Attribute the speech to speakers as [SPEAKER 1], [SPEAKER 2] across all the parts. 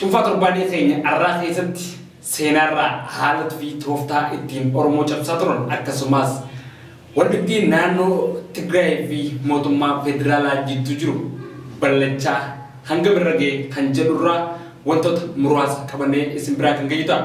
[SPEAKER 1] Cuunfaa torbaanii keenya arraa keessatti seenaarraa haala tufii tooftaa ittiin Oromoo cabsaa turan akkasumaas waldhibdee naannoo Tigraayii fi mootummaa federaalaa jidduu jiru ballachaa hangam irra gahe kan jedhurraa wantoota muraasa qabannee isin biraan kan geenyu ta'a.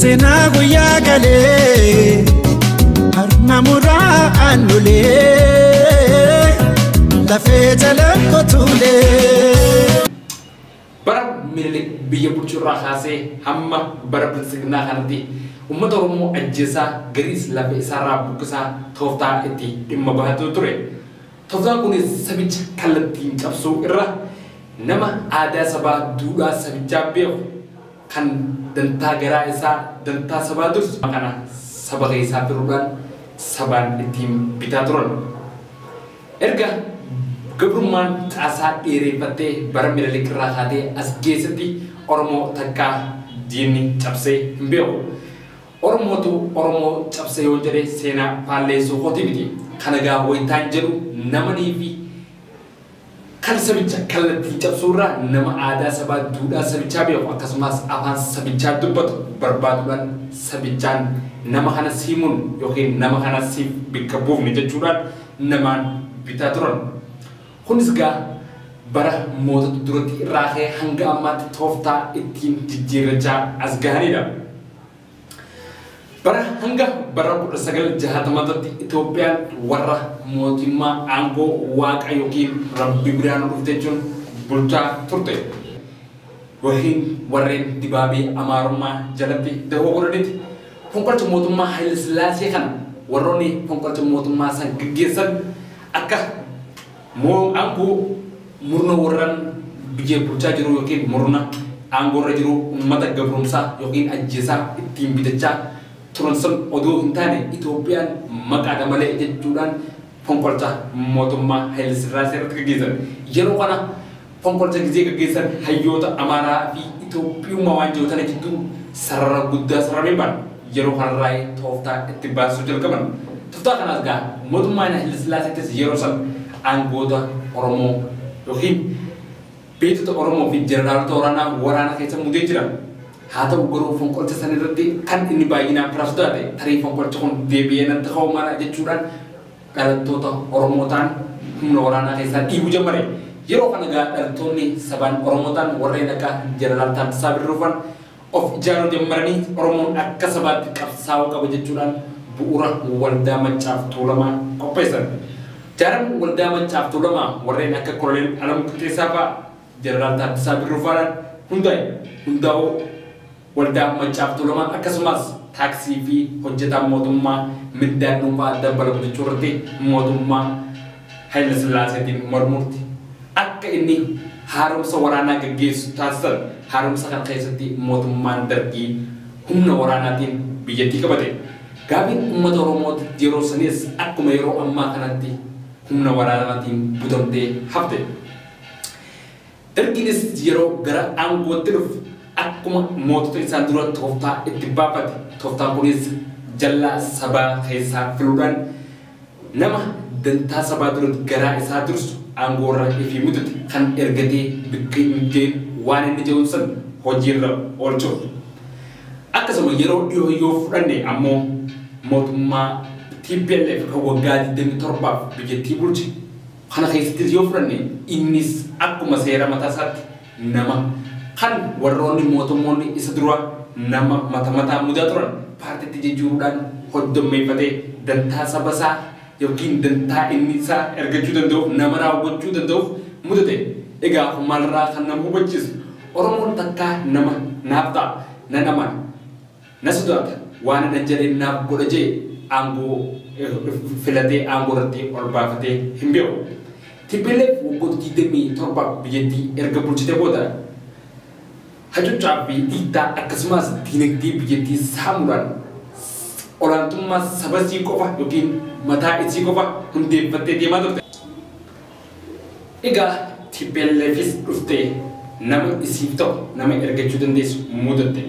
[SPEAKER 2] Seenaa guyyaa galee harma muraa aannulee lafee jala kotuulee.
[SPEAKER 1] bara minilik biyya bulchuurraa kaasee hamma bara bilisignaa kanatti uummata oromoo ajjeesaa gariis lafa isaarraa buqqisaa tooftaa itti dhimma bahatu ture tooftaan kunis sabicha kallattiin cabsuu irra nama aadaa sabaa duudhaa sabichaa beeku kan dantaa garaa isaa dantaa sabaa dursu kana saba keessaa firuudhaan sabaan ittiin bitaa turan. Erga gabrummaan caasaa dheereeffattee bara Minilik irraa kaatee as geessetti Oromoo takkaa diinni cabsee hin beeku. Oromootu Oromoo cabse yoon jedhe seenaa faalleessuu kooti miti. Kana egaa wayitaan jedhu namaniifi. Kan sabicha kallattiin cabsuu irra nama aadaa sabaa duudhaa sabichaa beeku akkasumaas afaan sabichaa dubbatu barbaadudhaan sabichaan nama kana sii murna yookiin nama kana siif bikka buufna jechuudhaan namaan bitaa turan. Kunis gaa bara mootota durattii irraa ka'ee hanga ammaatti tooftaa ittiin jijjiirrachaa as gahaniidha. Bara hanga bara 1960tti Itoophiyaan warra mootummaa aangoo waaqa yookiin rabbi biraan dhufte jechuun bulchaa turte. Yookiin warreen dibaabee amaarummaa jalatti dahoo godhanitti. Fonqolcha mootummaa Hayila Sillaasee kana warroonni fonqolcha mootummaa san gaggeessan akka Moo aangoo murna warran biyya bulchaa jiruu ykn murna aangoo irra jiruu ummata gabromsaa ykn ajjeesaa ittiin bitachaa turan san odoo hin taane Itoophiyaan maqaadha malee jechuudhaan fonqolcha mootummaa Hayilesirraasee irratti gaggeessan yeroo kana Fonqolcha gizee gaggeessan hayyoota Amaaraa fi Itoophiyummaa waan jiru tana jidduu sarara guddaa saramee baan yeroo kanarraayi tooftaa itti baasisuu jalqaban. Toftaa kanaas gaa mootummaa Hayilasillaaseettis yeroo san aangoota Oromoo ykn beektota Oromoo fi jeneraalota waraanaa waraana keessa muudee jira. Haa ta'u garuu fonqolcha san irratti kan inni baay'inaan pirasudaa ta'e tarii fonqolchi kun deebi'ee natti ka'uu mala jechuudhaan dhalattoota Oromoo ta'an humna waraanaa keessaa dhiibuu jammare. Yeroo kana egaa dhalattoonni sabaan Oromoo ta'an warreen akka Jeneraal Taaddasaa Birruufan of ijaaruu jammaranii Oromoon akka sabaatti qabsaa'uu qaba jechuudhaan bu'uura Waldaa Maccaaf Tuulamaa qopheessan. Jaaran Waldaa Maccaaf Tuulamaa warreen akka Koloneel Alamuu Qixxeessaafaa, Jeneraal Taaddasaa Birruufaadhaan hundaa'e. Hundaa'uu Waldaa Maccaa fi Tuulamaa akkasumaas taaksii fi hojjetaan mootummaa mindaan dhuunfaa dabbalamu jechuu irratti mootummaa Haylasillaaseetiin mormuurti akka inni haaromsa waraanaa gaggeessu taasisan. Haaromsa kana keessatti mootummaan Dargii humna waraanaatiin biyyattii qabate. Gaafiin ummata Oromoo yeroo saniis akkuma yeroo ammaa kanatti humna waraanaatiin butamtee hafte. Dargiinis yeroo gara aangootti dhufe akkuma mootota isaan dura tooftaa itti baafate. Tooftaan kunis jallaa sabaa keessaa filuudhaan nama dantaa sabaa duratti garaa isaa dursu aangoorra ifii muxuxe kan ergatee bikka hin ga'in waan inni je'uun san hojiirra oolchuuf. Akkasuma yeroo dhihoo yoo fudhanne ammoo mootummaa tplf kan waggaa 27f biyyattii bulche. Kana keessattis yoo fudhanne innis akkuma seera mataa isaatti nama, kan warroonni mootummoonni isa duraa nama mata mataan mudaa turan paartiitti jijjiiruudhaan hoddommeeffatee dantaa saba isaa ykn dantaa inni isaa ergachuu danda'uuf nama raawwachuu danda'uuf mudate. Egaa kun maalirraa kan nama hubachiisu? Oromoon takkaa nama naaf ta'a, nan amana. Na sodaata waanan an jedheen naaf godha je'e aangoo filatee aangoo irratti ol baafatee hin beeku. Tplf waggoota 27f biyyattii erga bulchitee booda hacuccaa fi dhiittaa akkasumaas diinagdee biyyattii saamuudhaan olaantummaa saba isii qofa ykn mataa isii qofa hundeeffattee deemaa turte. Egaa TPLFis dhuftee nama isiif ta'u, nama ergachuu dandeessu muudatte.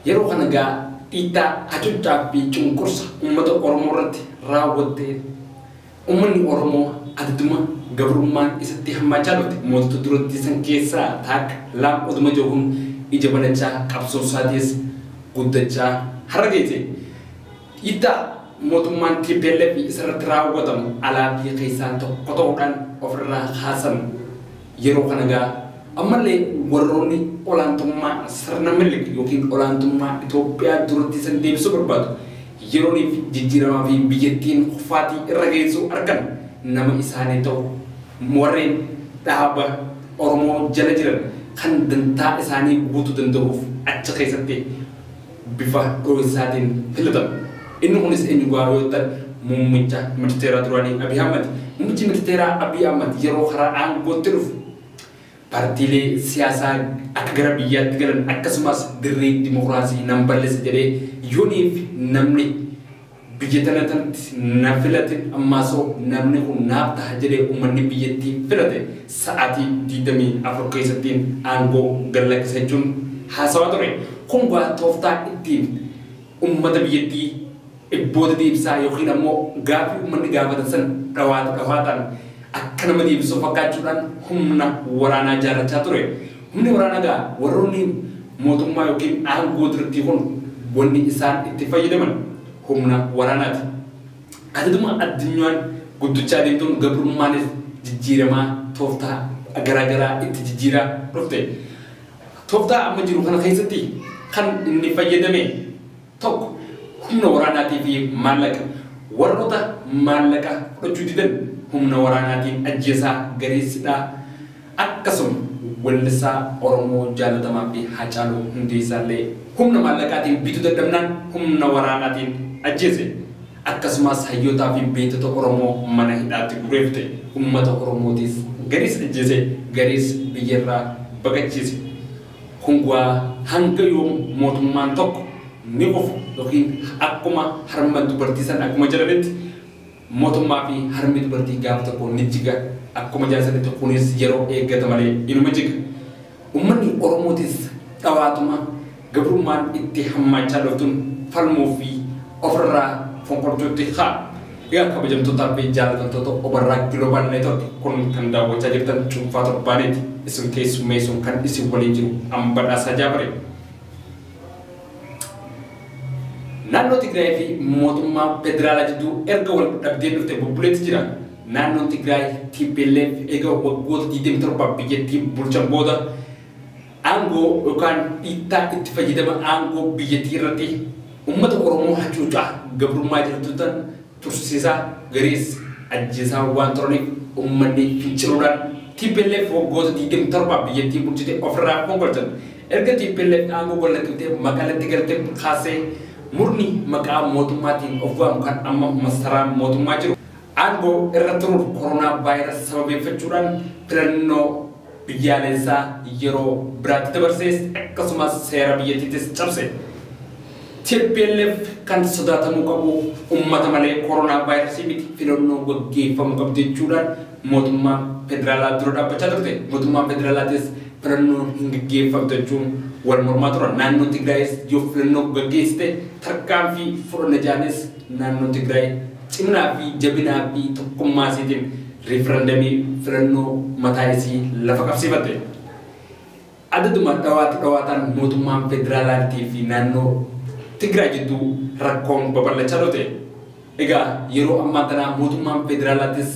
[SPEAKER 1] Yeroo kana egaa dhiittaa, hacuuccaa fi cunqursa uummata Oromoo irratti raawwattee uummanni Oromoo adaduma gabrummaan isatti hammaachaa dhufte mootota durattii san keessaa taakka laam oduma jahuun ija banachaa qabsoon isaatiis guddachaa har'a geesse. Dhiittaa mootummaan tplf isarratti raawwatamu alaa fi keessaa tokko ta'uudhaan ofirraa kaasan yeroo kana ga'a. Ammallee warroonni olaantummaa sirna Minilik ykn olaantummaa Itoophiyaa duratti san deebisuu barbaadu yerooniif jijjiiramaa fi biyyattiin kufaatii irra geessuu argan nama isaanii ta'u. Warreen dhaaba Oromoo jala jiran kan dantaa isaanii guutuu danda'uuf achi keessatti. bifa dhohinsaatiin filatame. Inni kunis eenyu gaaruu yoo jettan muummicha ministeeraa duraanii Abiy Ahmad. Muummichi ministeeraa Abiy Ahmad yeroo karaa aangootti dhufu partiilee siyaasaa akka gara biyyaatti galan akkasumas dirree dimokiraasii nan balleessa jedhee yoniif namni Biyya tana tanti na filate ammaasoo namni kun naaf taha jedhee ummanni biyyattii filate sa'aatii 24 keessatti aangoo gad lakkisa jechuun haasawaa ture. Kun gaa tooftaa ittiin ummata biyyattii dhibboota deebisaa yookiin ammoo gaaffii ummanni gaafatan san dhawaata dhawaataan akka nama deebisuu fakkaachuudhaan humna waraanaa jaarrachaa ture. Humni waraana gahaan warroonni mootummaa ykn aangoo dirqii kun wanni isaan itti fayyadaman humna waraanaati. Adaduma addunyaan guddachaa deemtuun gabrummaanis jijjiiramaa tooftaa garaa garaa itti jijjiiraa dhufte. Tooftaa amma jiru kana keessatti kan inni fayyadame. 1, Humna waraanaatii fi maallaqa Warroota maallaqa fudhachuu didan humna waraanaatiin ajjeesaa, gareessidhaa Akkasuma wellisaa Oromoo jaalatamaa fi Haacaaluu Hundeessaa illee humna maallaqaatiin bituu dadhabnaan humna waraanaatiin ajjeese. Akkasumaas hayyootaa fi beektota Oromoo mana hidhaatti guuree fixe. Ummata Oromootiis gariis ajjeese, gariis biyyarraa baqachiise. Kun waa hanga yoom mootummaan tokko ni kufa ykn akkuma harma dubartii san akkuma jedhanitti mootummaa fi harmi dubartii gaafa tokko ni jiga akkuma jedhan sanitti kunis yeroo eeggata malee inuma jiga. Ummanni Oromootis dhawaatuma gabrummaan itti hammaachaa dhuftun falmuu fi ofirraa fonqolchuutti ka'a. Egaa kabajamtootaa fi jaallatamtoota Obarraa Global Network kun kan daawwachaa jirtan cuunfaa torbaaniiti. Isin keessummeessuun kan isin waliin jiru an Badhaasaa Jaabare. Naannoo Tigraay fi mootummaa federaalaa jidduu erga wal dhabdeen dhufte bubbuleetti jira. Naannoon Tigraay TPLF eega waggoota 27 biyyattii bulchan booda Aangoo yookaan dhiittaa itti fayyadama aangoo biyyattii irratti uummata Oromoo hacuucaa gabrummaa jaltuttan tursiisaa, gariis ajjeesaa waan turaniif uummanni finciluudhaan tplf waggoota 27f biyyattii bulchite ofirraa fonqolchan. Erga tplf aangoo gadlakkiftee Maqaletti galte kaassee murni maqaa mootummaatiin of waamu kan amma masaraa mootummaa jiru aangoo irra turuuf koronaa vaayirasi sababeeffachuudhaan filannoo biyyaalessaa yeroo biraatti dabarsees akkasumas seera biyyattiitis cabse. Tplf kan sodaatamuu qabu ummata malee koronaavaayirasii miti filannoo gaggeeffamu qabdi jechuudhaan mootummaa federaalaa dura dhaabbachaa turte. Mootummaan federaalaatis filannoon hin gaggeeffamtu jechuun wal mormaa turan. Naannoo Tigraayis yoo filannoo gaggeessite tarkaanfii fudhanna jedhanis naannoo Tigraay Ciminaa fi jabinaa fi tokkummaa isiitiin riifarandamii, filannoo, mataa isii lafa qabsiifatte. Adaduma dhawaata dhawaataan mootummaan federaalaartii fi naannoo Tigraay jidduu rakkoon babal'achaa dhufte. Egaa yeroo ammaan tanaa mootummaan federaalaattis.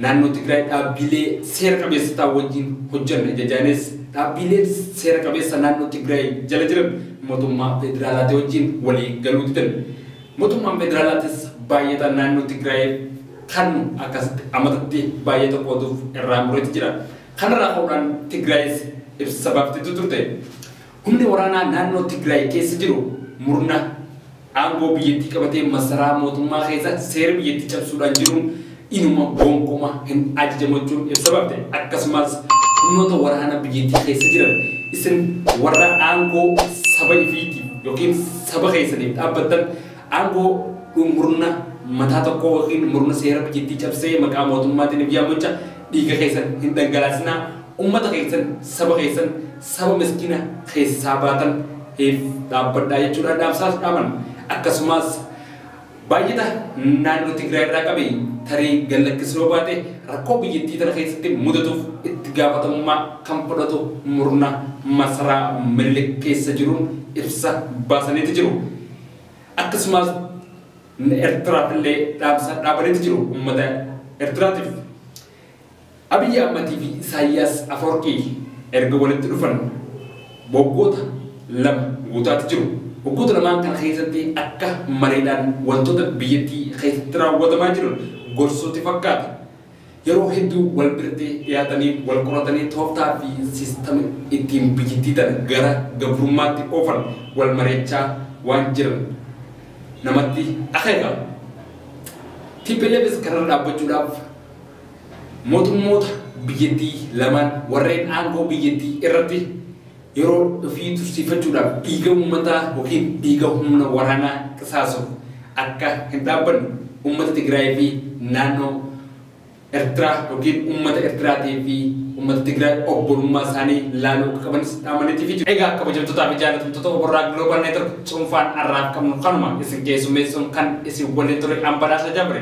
[SPEAKER 1] Naannoo Tigraay dhaabbiilee seera qabeessotaa wajjin hojjanna jajaanis dhaabbiileen seera qabeessa naannoo Tigraay jala jiran motummaa federaalaatii wajjin walii galuu didan. Motummaan federaalaatis baayyata naannoo Tigraayiif kannu akkasitti amatatti baayyata qooduuf irraa mureeti jira. Kanarraa ka'uudhaan Tigraayis ibsa baafteetu turte. Humni waraanaa naannoo Tigraay keessa jiru murna aangoo biyyattii qabatee masaraa mootummaa keessa seera biyyattii cabsuudhaan jiruun inuma gonkuma hin ajajamu jechuun ibsa bafte. Akkasumas humnoota waraana biyyattii keessa jiran isin warra aangoo saba ifiitiif ykn saba keessaniif dhaabbattan aangoo dhu murna mataa tokkoo ykn murna seera biyyattii cabsee maqaa mootummaatiin of yaammacha dhiiga keessan hin dhangalaasinaa, ummata keessan, saba keessan, saba miskina keessaa baatan hiif dhaabbadhaa jechuudhaan dhaamsaas dhaaman. Akkasumaas Baay'ata naannoo Tigraay irraa qabe tarii gad lakkisuu yoo baate rakkoo biyyattii tana keessatti mudatuuf itti gaafatamummaa kan fudhatu murna masaraa Minilik keessa jiruun ibsa baasaniiti jiru. Akkasumaas Ertiraaf illee dhaamsa dhaabaniiti jiru ummata Ertiraatiif. Abiy Ahmad fi Isaayyaas Afawarqii erga walitti dhufan waggoota lama guutaati jiru. Waggoota lamaan kana keessatti akka mareedhaan wantoota biyyattii keessatti raawwatamaa jiran gorsuuti fakkaata. Yeroo hedduu wal biratti dhiyaatanii wal qoratanii tooftaa fi siistama ittiin biyyattii tana gara gabrummaatti oofan wal mari'achaa waan jiran namatti akeeka. TPLFs kanarra dhaabbachuudhaaf Mootummoota biyyattii lamaan warreen aangoo biyyattii irratti yeroo ofii tursiifachuudhaaf dhiiga uummataa ykn dhiiga humna waraanaa qisaasuuf akka hin dhaabbanne uummata Tigraayii fi naannoo Ertiraa ykn uummata Ertiraatii fi uummata Tigraay obbolummaa isaanii laaluu akka qabanis dhaamaniitii fi jiru. Egaa kabajamtootaa fi jaalatamtoota Oborraa Global Network cuunfaan har'aaf qabnu kanuma isin keessummeessuun kan isin waliin ture an Badhaasa Jabri.